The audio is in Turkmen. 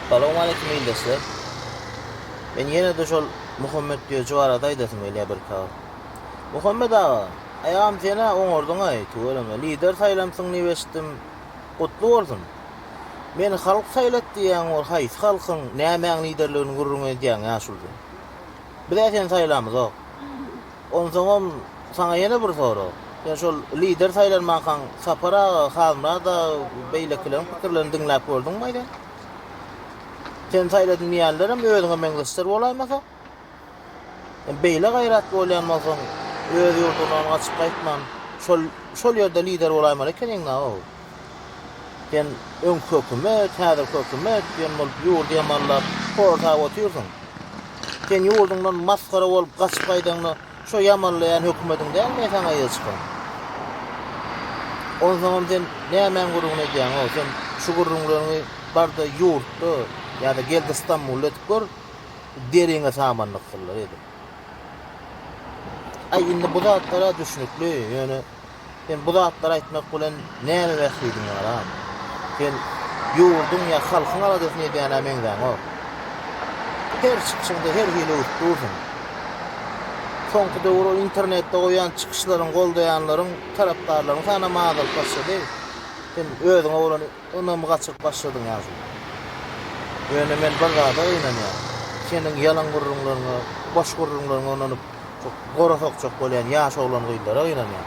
Salowmaleýkim ildeşler. Men ýene-de şol Muhammet Döji barada aýdasym gelýär birkagyz. Muhammet aga, aýagam sen-ä oňardyň-aý, tüweleme, lider saýlansyň diýip eşitdim. Gutly bolsun. Meni halk saýlady diýýäň, ol haýsy halkyň, nämäň liderligini gürrüň edýäň-ä şulda. Biz-ä seni saýlamyzok. Onsoňam saňa ýene bir sorag. Sen şol lider saýlanmankaň Sapar aga, Halmyrat aga, beýlekileriň pikirlerini diňläp gördüňmi-ä sen? Seni saýladym diýýänlerem özüňe meňzeşler bolaýmasa? Sen beýle gaýratly bolýan bolsaň, öz ýurduňdan gaçyp gaýtman, şol şol ýerde lider bolaýmaly ekeniň-ä-ow! Sen öňki hökümet, häzirki hökümet diýen bolup ýurdy ýamanlap horsap otyrsyň. Sen ýurduňdan masgara bolup gaçyp gaýdaňda şo ýamanlaýan hökümediň dälmi saňa ýygy çykan? Onsoňam sen nämäň gürrüňini edýäň-ow? Sen şu gürrüňleriňi bar-da ýurtda ýa-da gel-de Stambulda edip gör, deriňe samandyrsynlar edip. Aý indi bu zatlar-a düşnükli, ýöne Sen bu zatlary aýtmak bilen näme mähridiň ýaram? Sen ýurduň ýa halkyň aladasyny edýänä meňzäňok. Her çykyşyňda her hili öwüp dursuň. Soňky döwür ol internetde goýýan çykyşlaryňy goldaýanlaryň, tarapdarlaryň sanam azalyp başlady. Sen özüňe bolan Ynamy gaçyryp başladyň ýaşuly. Ýöne men bir zada gynanýan. Seniň ýalan gürrüňleriňe, boş gürrüňleriňe ynanyp, şo gora sokjak bolýan ýaş oglan-gyzlara gynanýan.